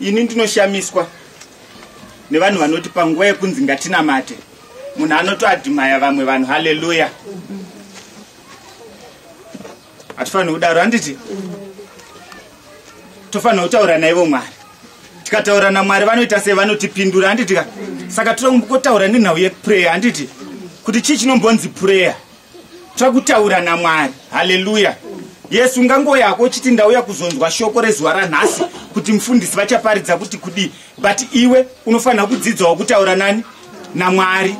ini ndinoshamiswa nevanhu vanoti panguva yekunzi ngatinamate munhu anotoadhimaya vamwe vanhu haleluya hatifaniri kudaro handiti tofanira kutaura naivo mwari tikataura namwari vanoita sei vanotipindura handitika saka tinokotaura nenhau yeprayer handiti kuti chii chinombonzi prayer takutaura namwari haleluya yes ungangoyako uchiti ndauya kuzonzwa shoko rezuva ranhasi kuti mufundisi vachaparidza kuti kudii but iwe unofanira kudzidzawo kutaura nani namwari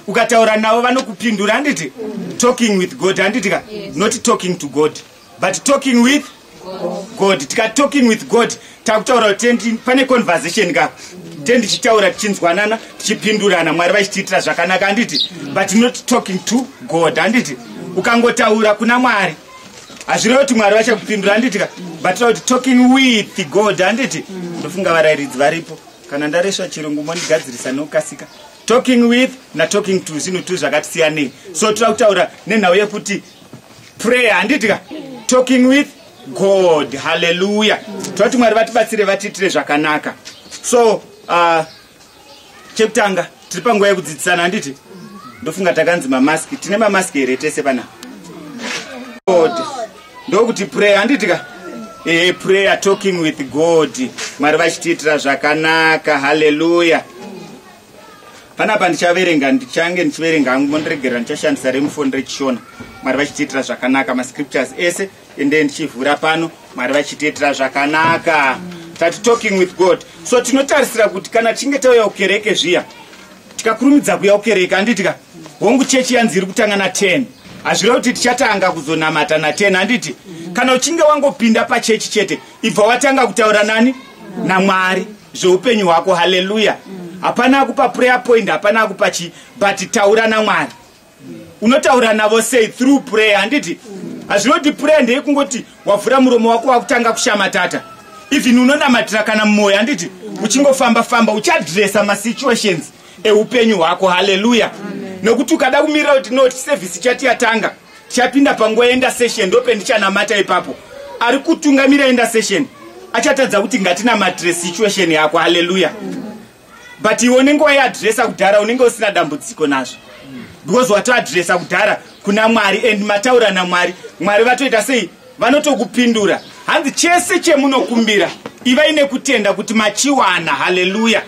ukataura navo vanokupindura handiti talking with god handiti ka not talking to god but talking with god tika talking with god takutaura kuti pane conversation ka te ndichitaura tichinzwanana tichipindurana mwari vachitiitira zvakanaka handiti but not talking to god handiti ukangotaura kuna mwari hazvireva kuti mwari vachakupindura handiti ka but tira kuti talking with god handiti ndofunga varairidzi varipo kana ndaresva chirungu mondigadzirisa nokukasika talking with natalking to zvinhu tu zvakati siyanei so tira kutaura nenhau yekuti prayer handiti ka talking with god haleluya toti mwari vatibatsire vatiitire zvakanaka so uh, chekutanga tiri panguva yekudzidzisana handiti ndofunga takanzi mamaski tine mamaski here tese pana god ndokuti prayer handiti ka e prayer talking with god mwari vachitiitira zvakanaka haleluya panapa ndichaverenga ndichange ndichiverenga hangu mondiregerera ndichashandisa remufoni rechishona mwari vachitiitira zvakanaka mascriptures ese ende ndichivhura pano mwari vachitiitira zvakanaka tati talking with god so tinotarisira kuti kana tichinge tauya kukereke zviya tikakurumidza kuya kukereke anditika hongu chechi yanzi iri kutanga na 10 hazvireva kuti tichatanga kuzonamata na 10 handiti kana uchinge wangopinda pachechi chete ibva watanga kutaura nani namwari zveupenyu hwako haleluya hapana akupa prayer point hapana akupa chii but taura namwari unotaura navo sei through prayer handiti hazvinoti prayer ndeye kungoti wavhura muromo wako wakutanga kushamatata even unonamatira kana mumwoyo handiti uchingofamba famba uchadresa masituations eupenyu hwako haleluya nekuti ukada kumirira kuti no service chati yatanga tichapinda panguva yenda session ndope ndichanamata ipapo ari kutungamira yenda session achatadza kuti ngatinamatre situation yako haleluya but iwe unenge waiadresa kudhara unenge usina dambudziko nazvo because watoadresa kudhara kuna mwari and mataura namwari mwari vatoita sei vanotokupindura hanzi chese chemunokumbira ivai nekutenda kuti machiwana haleluya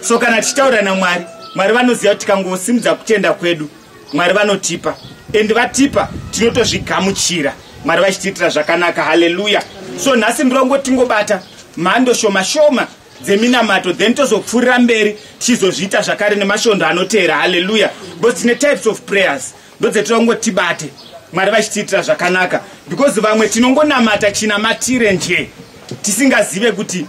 so kana tichitaura namwari mwari vanoziva kuti tikangosimudza kutenda kwedu mwari vanotipa and vatipa tinotozvigamuchira mwari vachitiitira zvakanaka haleluya so nhasi ndirongo tingobata mhando shoma shoma dzeminamato then tozopfuurira mberi tichizozviita zvakare nemashondo anoteera haleluya because tine types of prayers ndodzetinongo tibate mwari vachitiitira zvakanaka because vamwe tinongonamata chinamatire nje tisingazive kuti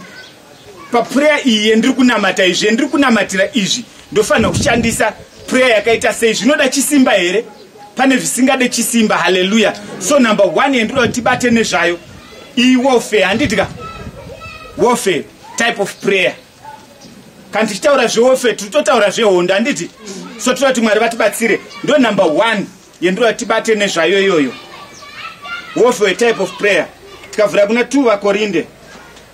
papureya iyi yendiri kunamata izvi yendiri kunamatira izvi ndofanira kushandisa pureya yakaita sei zvinoda chisimba here pane zvisingade chisimba haleluya so number one yendinoda kuti tibate nezvayo iyi warfare handiti ka warfare type of prayer kana tichitaura zvewarfare tiri totaura zvehondo handiti so tinoda kuti mwari vatibatsire ndo number one yendinoda kuti tibate nezvayo iyoyo warfare type of prayer tikavhura kuna two vakorinde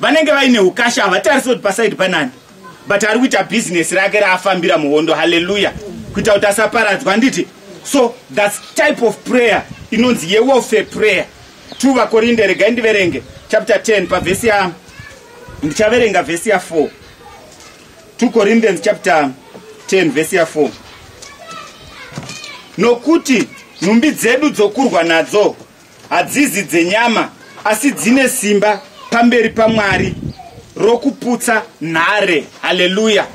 vanenge vaine ukasha havatarisi kuti pasaidi panani but ari kuita bhizinesi rake raafambira muhondo haleluya kuita kuti asaparadzwa handiti so thats type of prayer inonzi yewelfare prayer two vakorinde regai ndiverenge chapter 10 pavhesi ya ndichaverenga vhesi ya 4 two corinthians chapter 10 vhesi ya 4 nokuti nhumbi dzedu dzokurwa nadzo Hadzizi dzenyama asi dzine simba pamberi paMwari rokuputsa nhare. Haleluya.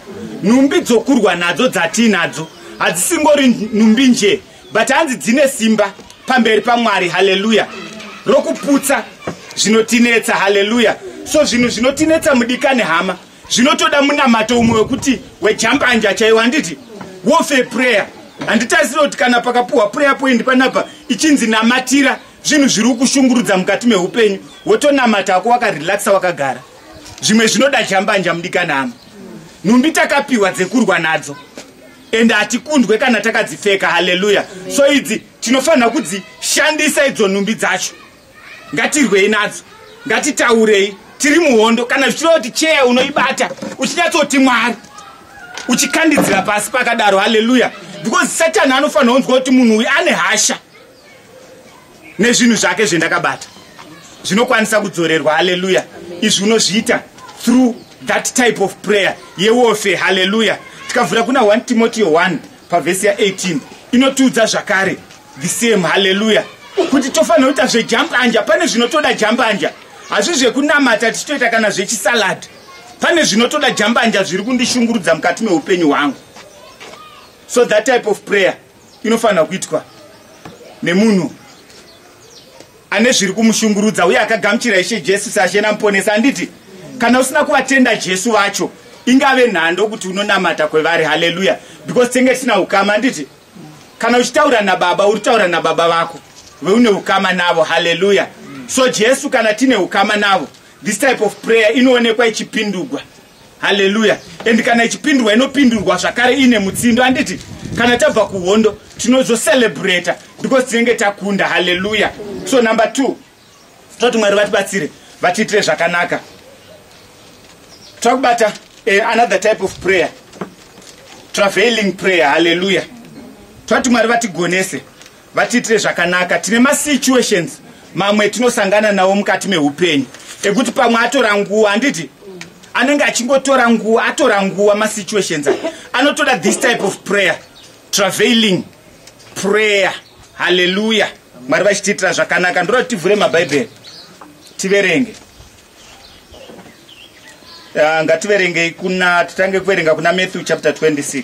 Nhumbi dzokurwa nadzo dzatiinadzo hadzisingori nhumbi nje but hanzi dzine simba pamberi pamwari haleluya rokuputsa zvinotinetsa haleluya so zvinhu zvinotinetsa mudikani hama zvinotoda munamato umwe wekuti wejambanja chaiwo handiti wofe prayer handitarisire kuti kana pakapuhwa prayer point panapa ichinzi namatira zvinhu zviri kushungurudza mukati meupenyu wotonamata hako wakarelaxa wakagara zvimwe zvinoda jambanja mudikanama nhumbi takapiwa dzekurwa nadzo ende hatikundwe kana takadzipfeka haleluya so idzi tinofanira kudzishandisa idzo nhumbi dzacho ngatirwei nadzo ngatitaurei tiri muhondo kana zvichireva kuti cheya unoibata uchinyatsoti mwari uchikandidzira pasi pakadaro haleluya because satani anofanira kunzwa kuti munhu uyu ane hasha nezvinhu zvake zvendakabata zvinokwanisa kudzorerwa haleluya izvi unozviita through that type of prayer yewofe haleluya tikavhura kuna 1 timoteo 1 pavhesi ya18 inotiudza zvakare the same haleluya kuti tofanira kuita zvejambanja pane zvinotoda jambanja hazvi zvekunamata tichitoita kana zvechisalad pane zvinotoda jambanja zviri kundishungurudza mukati meupenyu hwangu so that type of prayer inofanira kuitwa nemunhu ane zviri kumushungurudza uye akagamuchira ishe jesu sashe namuponesa anditi kana usina kuvatenda jesu vacho ingave nhando kuti unonamata kwevari haleluya because tenge tisina ukama anditi kana uchitaura nababa uri taura nababa vako veune ukama navo haleluya so jesu kana tine ukama navo this type of prayer inoonekwa ichipindurwa haleluya and kana ichipindurwa inopindurwa zvakare ine mutsindo anditi kana tabva kuhondo tinozocelebrata because tinenge takunda haleluya so number two tinoti mwari vatibatsire vatiitire zvakanaka takubata uh, eh, another type of prayer traveling prayer halleluya tinoti mwari vatigonese vatiitire zvakanaka tine masituations mamwe etinosangana nawo mukati meupenyu ekuti pamwe atora nguva handiti anenge achingotora nguva atora nguva masituations anotoda this type of prayer travailing prayer haleluya mwari vachitiitira zvakanaka ndoda kuti tivhure mabhaibheri tiverenge ah, ngativerengei kuna titange kuverenga kuna matthew chapter 26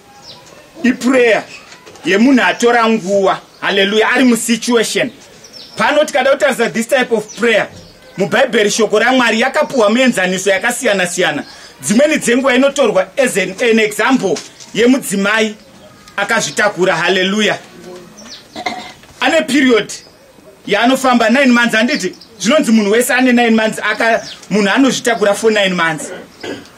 iprayer yemunhu atora nguva haleluya ari musituation pano tikada kutarisa this type of prayer mubhaibheri shoko ramwari yakapuhwa muenzaniso yakasiyana siyana dzimweni dzenguva inotorwa as an, an example yemudzimai akazvitakura haleluya ane period yaanofamba 9 months handiti zvinonzi munhu wese ane 9 months aka munhu anozvitakura for 9 months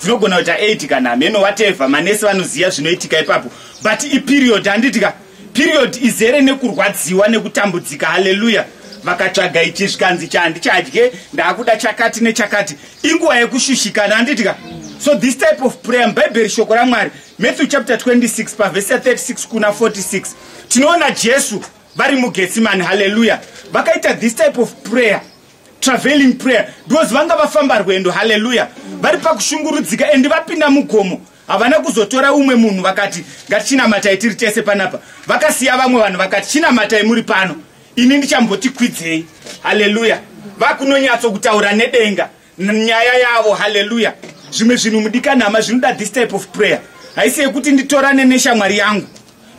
dzinogona kuita 8 kana hameno wateva manesi vanoziva zvinoitika ipapo but iperiod handiti ka period izere nekurwadziwa nekutambudzika haleluya vakatsvaga ichi zvikanzi chandicadye ndaakuda chakati nechakati inguva yekushushikana handiti ka so this type of prayer mubhaibheri shoko ramwari matthew chapter 26 pavhesi ya 36 kuna 46 tinoona jesu vari mugetsimani haleluya vakaita this type of prayer traveling prayer because vanga vafamba rwendo haleluya vari pakushungurudzika and vapinda mugomo havana kuzotora umwe munhu vakati ngatichinamatai tiri tese panapa vakasiya vamwe vanhu vakati chinamatai muri pano ini ndichambotikwidzei haleluya vakunonyatso kutaura nedenga nyaya yavo haleluya zvimwe zvinhu mudikanhama zvinoda this type of prayer haisi yekuti nditorane neshamwari yangu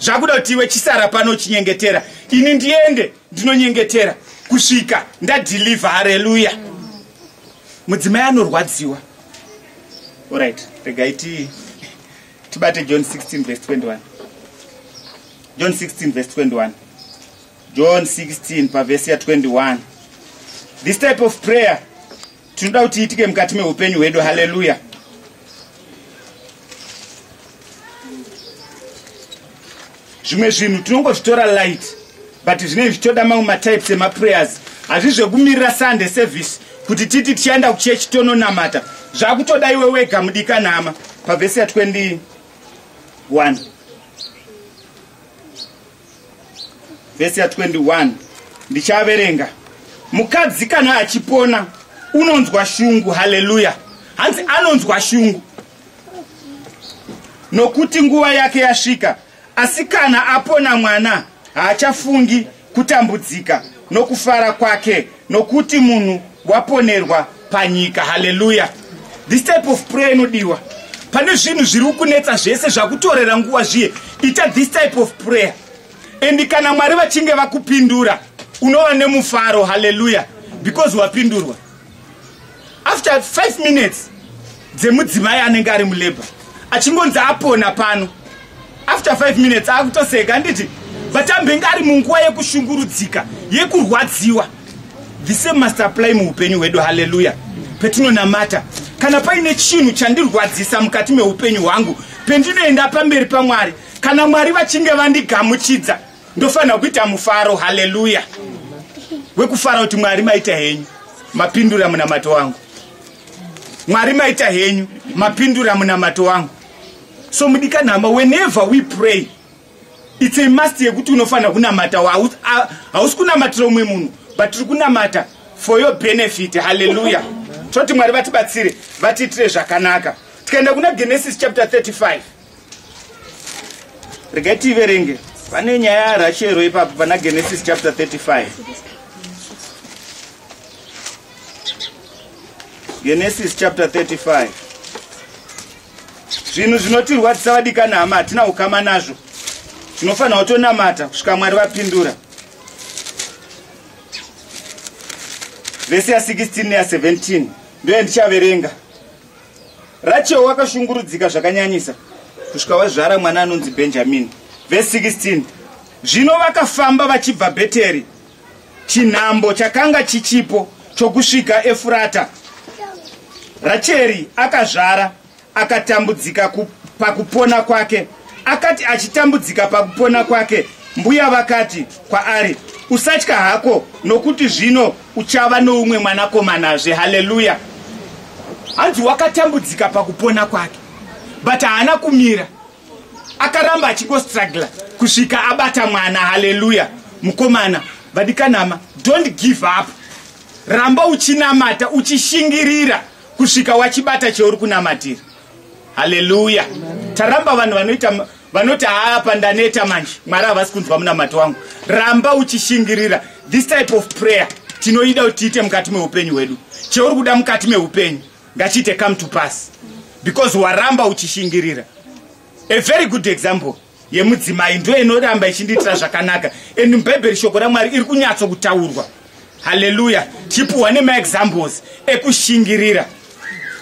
zvakuda kuti iwe chisara pano chinyengetera ini ndiende ndinonyengetera kusvika ndadhilivha hareluya mudzimai anorwadziwa orit regai ti tibate john 16 vs 21 john 16 vs 21 john 16 pavhesi ya21 this type of prayer tinoda kuti iitike mukati meupenyu hwedu haleluya zvimwe zvinhu tinongozvitora light but zvinenge zvichitoda mamwe matypes emaprayers hazvi zvekumirira sunday service kuti titi tichaenda kuchechi tononamata zvakutoda iwe wega mudikanhama pavhesi ya 21 vhesi ya 21 ndichaverenga mukadzi kana achipona unonzwa shungu haleluya hanzi anonzwa shungu nokuti nguva yake yasvika asi kana apona mwana haachafungi kutambudzika nokufara kwake nokuti munhu waponerwa panyika haleluya this type of prayer inodiwa pane zvinhu zviri kukunetsa zvese zvakutorera nguva zviye ita this type of prayer and kana mwari vachinge vakupindura unova nemufaro haleluya because wapindurwa after 5 minutes dzemudzimai anenge ari mulabor achingonzi apona pano after 5 minutes akutoseka anditi but ambenge ari munguva yekushungurudzika yekurwadziwa the same must apply muupenyu hwedu haleluya petinonamata kana paine chinhu chandirwadzisa mukati meupenyu hwangu pendinoenda pamberi pamwari kana mwari vachinge vandigamuchidza ndofanira kuita mufaro haleluya wekufara kuti mwari maita henyu mapindura munamato wangu mwari maita henyu mapindura munamato wangu so mudikanhama whenever we pray its a must yekuti unofanira kunamata hausi kunamatira umwe munhu but tiri kunamata for your benefit haleluya toti mwari vatibatsire vatiitire zvakanaka tikaenda kuna genesis chapter 35 regai tiiverenge vane nyaya yarashero ipapo pana genesis chapter 35 genesis chapter 35 zvinhu zvinotirwadzisa vadikana hama hatina ukama nazvo zvinofanira kutonamata kusvika mwari vapindura vese ya 16 neya 17 ndoye ndichaverenga rachel wakashungurudzika zvakanyanyisa kusvika wazvara mwana anonzi benjamini vese 16 zvino vakafamba vachibva bheteri chinhambo chakanga chichipo chokusvika efurata racheri akazvara akatambudzika pakupona kwake akati achitambudzika pakupona kwake mbuya vakati kwaari usatya hako nokuti zvino uchava noumwe mwanakomanazve haleluya hanzi wakatambudzika pakupona kwake but haana kumira akaramba achingostrugla kusvika abata mwana haleluya mukomana vadikanama don't give up ramba uchinamata uchishingirira kusvika wachibata cheuri kunamatira haleluya taramba vanhu vanoita vanoti haa pandaneta manje mwari havasi kunzwa munamato wangu ramba uchishingirira this type of prayer tinoida kuti tiite mukati meupenyu hwedu cheuri kuda mukati meupenyu ngachiite come to pass because waramba uchishingirira a very good example yemudzimai ndo inoramba ichindiitira zvakanaka and mubhaibheri shoko ramwari iri kunyatso kutaurwa haleluya chipuhwa nemaexamples ekushingirira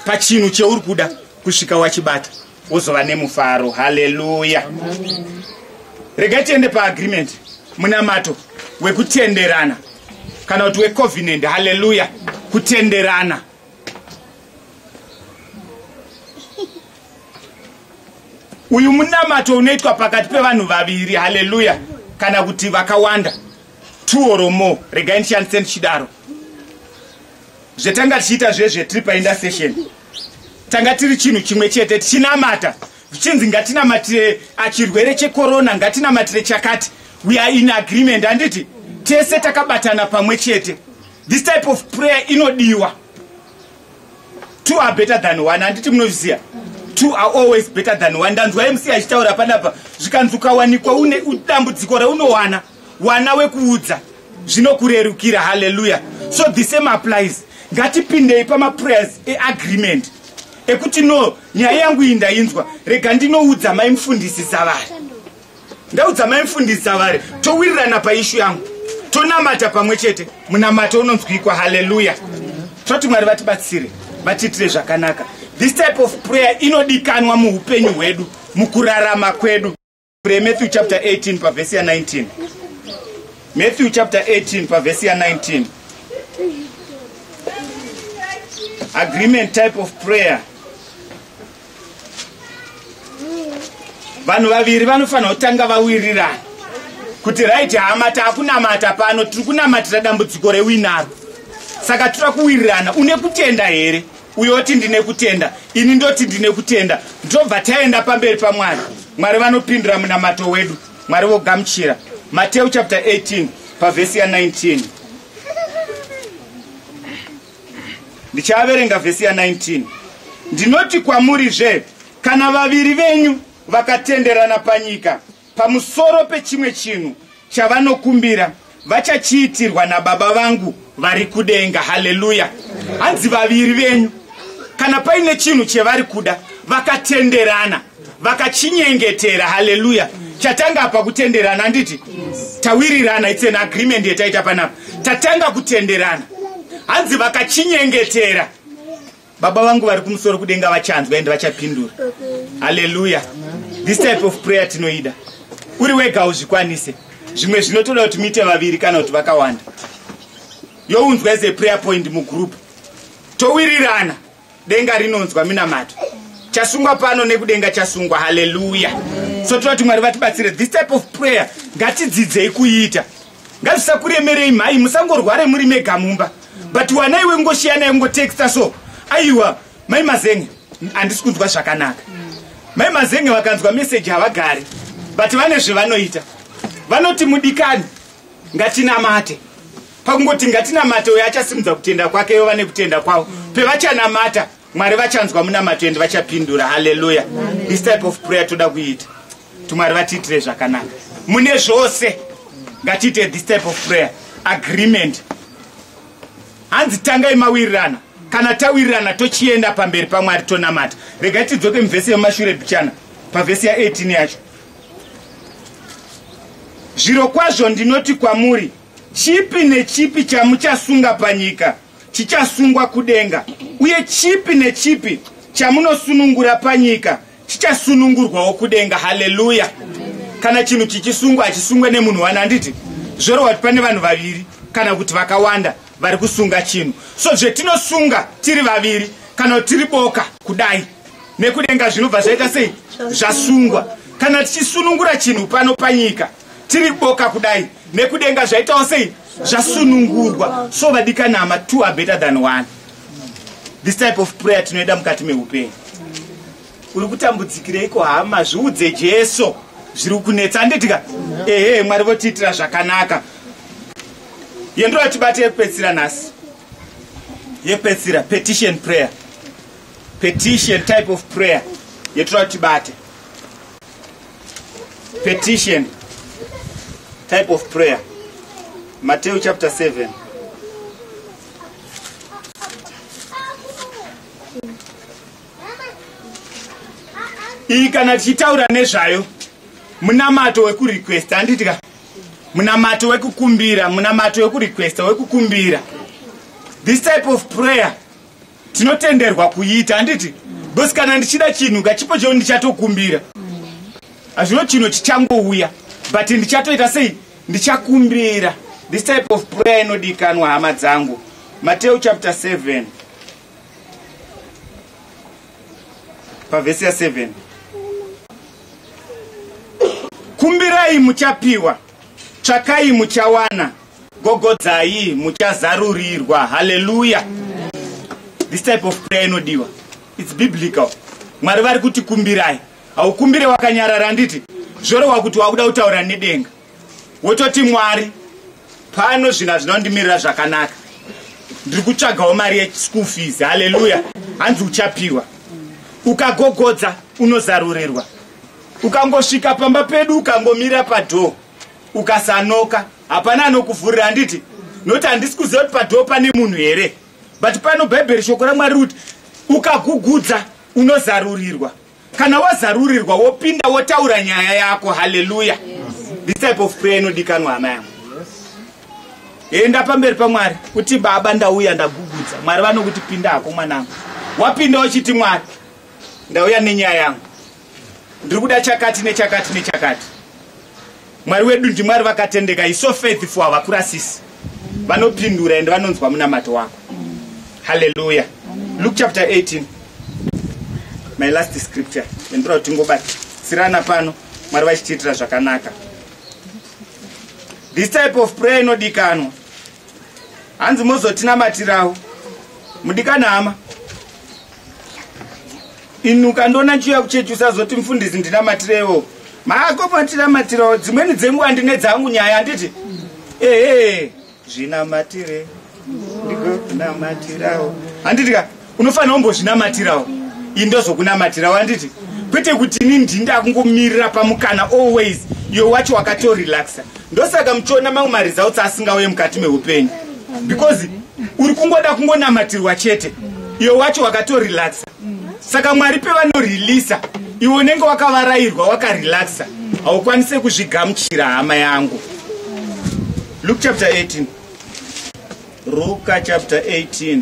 pachinhu cheuri kuda kusvika wachibata wozova nemufaro haleluya regai tiende paagreement munamato wekutenderana kana kuti wecovenant haleluya kutenderana uyu munamato unoitwa pakati pevanhu vaviri haleluya kana kuti vakawanda two or more regai ndishandise ndichidaro zvetanga tichiita zvezvetiri painda session tanga tiri chinhu chimwe chete tichinamata zvichinzi ngatinamatire achirwere chekorona ngatinamatire chakati we are in agreement handiti tese takabatana pamwe chete this type of prayer inodiwa two are better than one handiti munozviziva two are always better than one ndanzwa mc achitaura panapa zvikanzi ukawanikwa une dambudziko raunowana wana wekuudza zvinokurerukira halleluya so the same applies ngatipindei pamaprayers eagreement ekuti no nyaya yangu iyi ndainzwa rega ndinoudza maimufundisi savari ndaudza mai mfundisi avari towirirana paishu yangu tonamata pamwe chete munamato unonzwikwa haleluya toti mwari vatibatsire vatiitire zvakanaka this type of prayer inodikanwa muupenyu hwedu mukurarama kwedu matthew chapter 18 pavhesi ya 19 matthew chapter 18 pavhesi ya 19 agreement type of prayer vanhu vaviri vanofanira kutanga vawirirana kuti right hama taakunamata pano tiri kunamatira dambudziko rewinaro saka tira kuwirirana une kutenda here uyo oti ndine kutenda ini ndoti ndine kutenda ndobva taenda pamberi pamwari mwari vanopindura munamato wedu mwari vogamuchira mateu chapter 18 pavhesi ya 19 ndichaverenga vhesi ya 19 ndinoti kwamurizve kana vaviri venyu vakatenderana panyika pamusoro pechimwe chinhu chavanokumbira vachachiitirwa nababa vangu vari kudenga haleluya hanzi vaviri venyu kana paine chinhu chevari kuda vakatenderana vakachinyengetera haleluya chatanga apa kutenderana handiti tawirirana its an agreement yetaita panapa tatanga kutenderana hanzi vakachinyengetera baba vangu vari kumusoro kudenga vachanzwa ende vachapindura haleluya this type of prayer tinoida uri wega uzvikwanise zvimwe zvinotoda kuti muite vaviri kana kuti vakawanda younzwa as a prayer point mugroup towirirana denga rinonzwa minamato chasungwa pano nekudenga chasungwa haleluya so tinoda kuti mwari vatibatsire this type of prayer ngatidzidzei kuiita ngazvisakuremerei mhai musangorware muri mega mumba but wanai wengoshiyanai ungotexta so aiwa mai mazenge handisi kunzwa zvakanaka mai mazenge vakanzwa meseji havagari but vane zvevanoita vanoti mudikani ngatinamate pakungoti ngatinamate uyo achasimudza kutenda kwake ivo vane kutenda kwavo pevachanamata mwari vachanzwa munamato endi vachapindura haleluya this type of prayer toda kuita kuti mwari vatiitire zvakanaka mune zvose ngatiite this type of prayer agreement hanzi tangai mawirirana kana tawirirana tochienda pamberi pamwari tonamata rega tidzoke mivhesi yemumashure bichana pavhesi ya18 yacho zviro kwazvo ndinoti kwamuri Chipi nechipi chamuchasunga panyika chichasungwa kudenga, uye chipi nechipi chamunosunungura panyika chichasunungurwawo kudenga. Haleluya! Kana chinhu chichisungwa hachisungwe nemunhu wani, handiti zvorova kuti pane vanhu vaviri kana kuti vakawanda vari kusunga chinhu. So zvetinosunga tiri vaviri kana kuti tiri boka kudai nekudenga zvinobva zvaita sei? Zvasungwa. Kana tichisunungura chinhu pano panyika tiri boka kudai nekudenga zvaitawo sei zvasunungurwa so vadikanama two are better than one this type of prayer tinoida mukati meupenyu uri kutambudzikireiko hama zviudze jesu zviri kunetsa anditika ehe mwari votiitira zvakanaka yendo yatibate yekupedzisira nhasi yekupedzisira petition prayer petition type of prayer yetoda kutibate petition type of prayer mateo chapter 7 iyi kana tichitaura nezvayo munamato wekurequest handiti ka munamato wekukumbira munamato wekurequesta wekukumbira this type of prayer tinotenderwa kuita handiti bcause kana ndichida chinhu ngachipo cheu ndichatokumbira hazvino chino chichangouya but ndichatoita sei ndichakumbira this type of prayer inodikanwa hama dzangu mateu chapter 7 pavhesi ya 7 kumbirai muchapiwa tsvakai muchawana gogodzai muchazarurirwa haleluya this type of prayer inodiwa its biblical mwari vari kuti kumbirai haukumbire wakanyarara handiti zvorehwa kuti wakuda kutaura nedenga wototi mwari pano zvinhu hazvina kundimirira zvakanaka ndiri kutsvagawo mari yeschool fees haleluya hanzi uchapiwa ukagogodza unozarurirwa ukangosvika pamba pedu ukangomira padhoo ukasanoka hapana anokuvhurira handiti nokuti handisi kuziva kuti padoo pane munhu here but pano bhaibheri shoko ramwari rikuti ukagugudza unozarurirwa kana wazarurirwa wopinda wotaura nyaya yako haleluya this type of prayer inodikanwa hama yangu enda pamberi pamwari kuti baba ndauya ndagugudza mwari vanokuti pinda hako mwanangu wapinda uchiti mwari ndauya nenyaya yangu ndiri kuda chakati nechakati nechakati mwari wedu ndimwari vakatendeka is so faithful havakurasisi vanopindura ende vanonzwa munamato wako halleluya luke chapter 18 my last scripture endira kuti tingobatsirana pano mwari vachitiitira zvakanaka this type of prayer inodikanwa hanzi mozotinamatirawo mudikana hama inuka ndona nchiuya kuchechi usazoti mfundisi ndinamatirewo mako matinamatirawo dzimweni dzenguva ndine dzangu nyaya handiti ehe zvinamatire ndikokunamatirawo handiti ka unofanira kumbozvinamatirawo indozokunamatirawo handiti kwete kuti ini ndindakungomirira pamukana always iwe wacho wakatorelaxa ndosaka muchiona mamwe maresults asingauye mukati meupenyu because uri kungoda kungonamatirwa chete iyo wacho wakatorelaxa saka mwari pevanorelisa iwe unenge wakavarairwa wakarelaxa haukwanise kuzvigamuchira hama yangu luk chapter 18 ruka chapter 18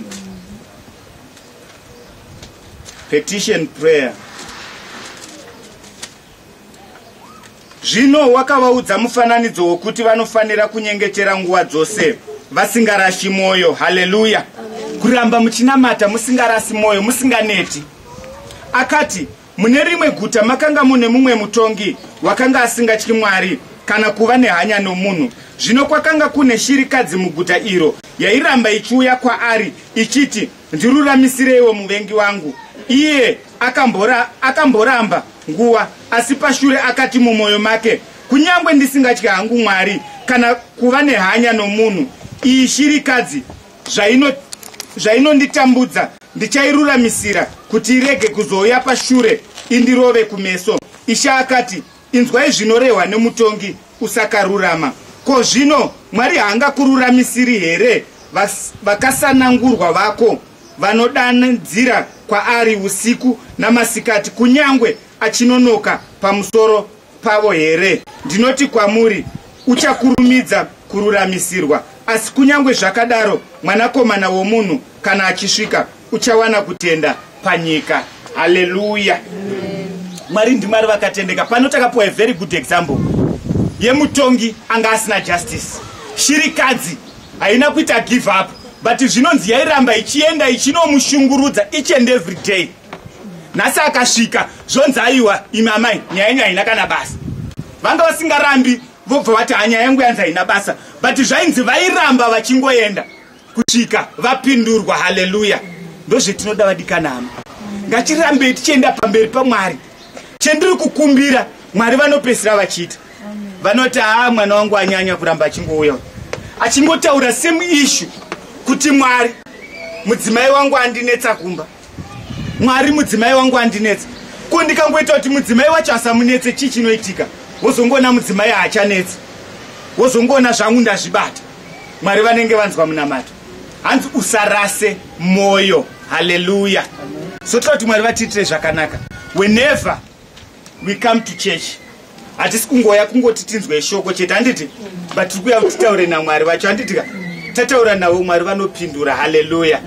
petition prayer Zvino wakavaudza mufananidzo wokuti vanofanira kunyengetera nguva dzose vasingarashi mwoyo. Haleluya! Kuramba muchinamata musingarasi mwoyo, musinganeti. Akati, Mune rimwe guta makanga mune mumwe mutongi wakanga asingatyi Mwari kana kuva nehanya nomunhu. Zvino kwakanga kune shirikadzi muguta iro yairamba ichiuya kwaari ichiti, Ndiruramisereiwo muvengi wangu. Iye akambora, akamboramba nguva, asi pashure akati mumwoyo make, Kunyangwe ndisingatye hangu Mwari kana kuva nehanya nomunhu, iyi shirikadzi zvaino zvainonditambudza ndichairuramisira kuti irege kuzouya pashure indirove kumeso. Ishe akati, Inzwai zvinorehwa nemutongi usakarurama. Ko zvino Mwari haangakururamisiri here vakasanangurwa vako vanodanidzira kwaari usiku namasikati, kunyangwe achinonoka pamusoro pavo here? Ndinoti kwamuri, uchakurumidza kururamisirwa. Asi kunyangwe zvakadaro, Mwanakomana womunhu kana achisvika, uchawana kutenda panyika haleluya mwari ndimwari vakatendeka pano takapiwa a very good example yemutongi anga asina justice shirikadzi haina kuita give up but zvinonzi yairamba ichienda ichinomushungurudza each and every day nhasi akasvika zvonzi aiwa imi amai nyaya yenyu haina kana basa vanga vasingarambi vobva vati hanyaya yangu yanzi haina basa but zvainzi vairamba vachingoenda kusvika vapindurwa haleluya ndozvetinoda vadikanama ngatirambei tichienda pamberi pamwari chendiri kukumbira mwari vanopesira vachiita vanoti haa mwana wangu anyanya kuramba achingouya achingotaura same issue kuti mwari mudzimai wangu andinetsa kumba mwari mudzimai wangu andinetsa ko ndikangoita kuti mudzimai wacho asamunetse chii chinoitika wozongoona mudzimai haachanetsi wozongoona zvangu ndazvibata mwari vanenge vanzwa munamato hanzi usarase mwoyo haleluya so toda kuti mwari vatiitire zvakanaka whenever we come to church hatisi kungoya kungoti tinzwe shoko chete handiti but tiri kuya kuti taure namwari vacho handiti ka tataura navo mwari vanopindura haleluya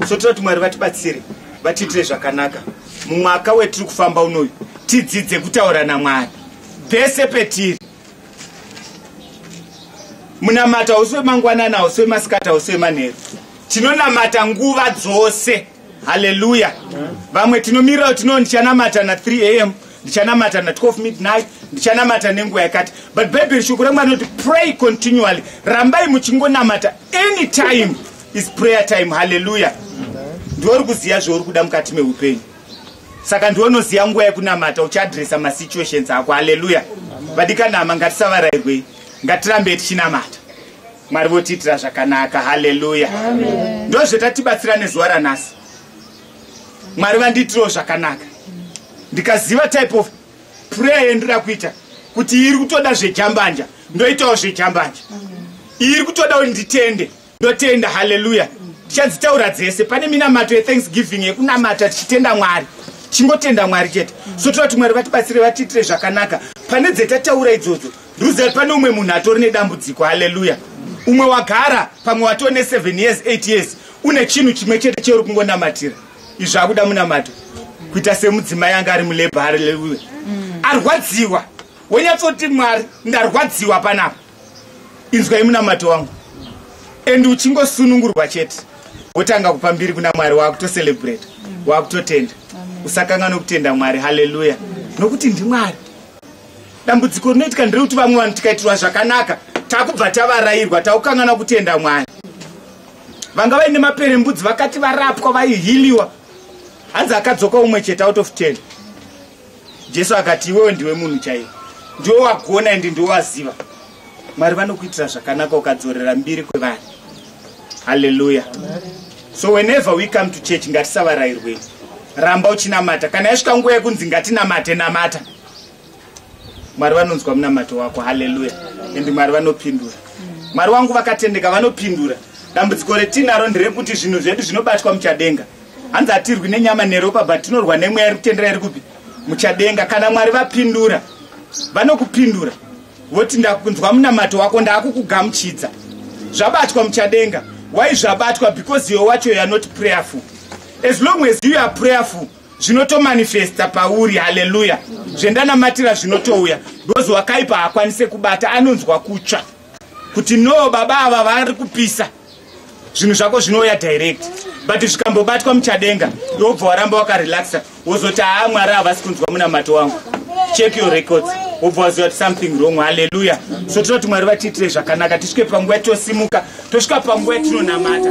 so toda kuti mwari vatibatsire vatiitire zvakanaka mumwaka wetiri kufamba unoyu tidzidze kutaura namwari pese petiri munamata hausi wemangwanani hausi wemasikati hausi wemanheru tinonamata nguva dzose haleluya vamwe tinomirira kuti no ndichanamata na 3 am ndichanamata na 12 midnight ndichanamata nenguva yakati but bhaibheri shoko remwa rinoti pray continually rambai muchingonamata any time is prayer time haleluya ndiwo uri kuziva zvauri kuda mukati meupenyu saka ndiwe unoziva nguva yekunamata uchiadresa masituations ako haleluya vadikanama ngatisavarairwei ngatirambe tichinamata mwari votiitira zvakanaka haleluya ndozvetatibatsira nezuva ranhasi mwari vandiitirawo zvakanaka ndikaziva type of prayer yendira kuita kuti iri kutoda zvejambanja ndoitawo zvejambanja iri kutoda kuti nditende ndotenda haleluya tichadzitaura dzese pane minamato yethanksgiving yekunamata tichitenda mwari chingotenda mwari chete so toda kuti mwari vatibatsire vatiitire zvakanaka pane dzetataura idzodzo ruziva pane umwe munhu atori nedambudziko haleluya umwe wagara pamwe watoo ne7 years 8 years une chinhu chimwe chete cheuri kungonamatira izvi akuda munamato kuita semudzimai anga ari mulebha haleluya mm. arwadziwa wonyatsoti mwari ndarwadziwa panapa inzwai munamato wangu and uchingosunungurwa chete wotanga kupa mbiri kuna mwari waakutocelebrate waakutotenda usakanga nokutenda mwari haleluya nokuti ndimwari dambudziko rinoitika nderekuti vamwe vanhu tikaitirwa zvakanaka takubva tavarairwa takukanganwa kutenda mwari vanga vaine maperembudzi vakati varapwa vaihiliwa hanzi akadzoka umwe chete out of ten jesu akati iwewe ndiwe munhu chaiye ndiwe wagona ende ndiwe waziva mwari vanokuitira zvakanaka ukadzorera mbiri kwevanhu halleluya so whenever we come to church ngatisavarairwei ramba uchinamata kana yasvika nguva yekunzi ngatinamate namata mwari vanonzwa munamato wako halleluya ende mwari vanopindura mwari wangu vakatendeka vanopindura dambudziko retinaro nderekuti zvinhu zvedu zvinobatwa muchadenga hanzi hatirwi nenyama neropa but tinorwa nemweya iri kutendera iri kupi muchadenga kana mwari vapindura vanokupindura voti ndakunzwa munamato wako ndaakukugamuchidza zvabatwa muchadenga why zvabatwa because iwe wacho youare not prayerful as long as you are prayerful zvinotomanifesta pauri haleluya zvendanamatira zvinotouya because wakaipa haakwanise kubata anonzwa kutsva kuti no baba ava vari kupisa zvinhu zvako zvinouya direct but zvikambobatwa muchadenga iwobva waramba wakarelaxa wozoti haa mwari havasi kunzwa munamato wangu check your records wobva waziva kuti something wrong halleluya so tinoti mwari vatiitire zvakanaka tisvike panguva tosimuka tosvika panguva yatinonamata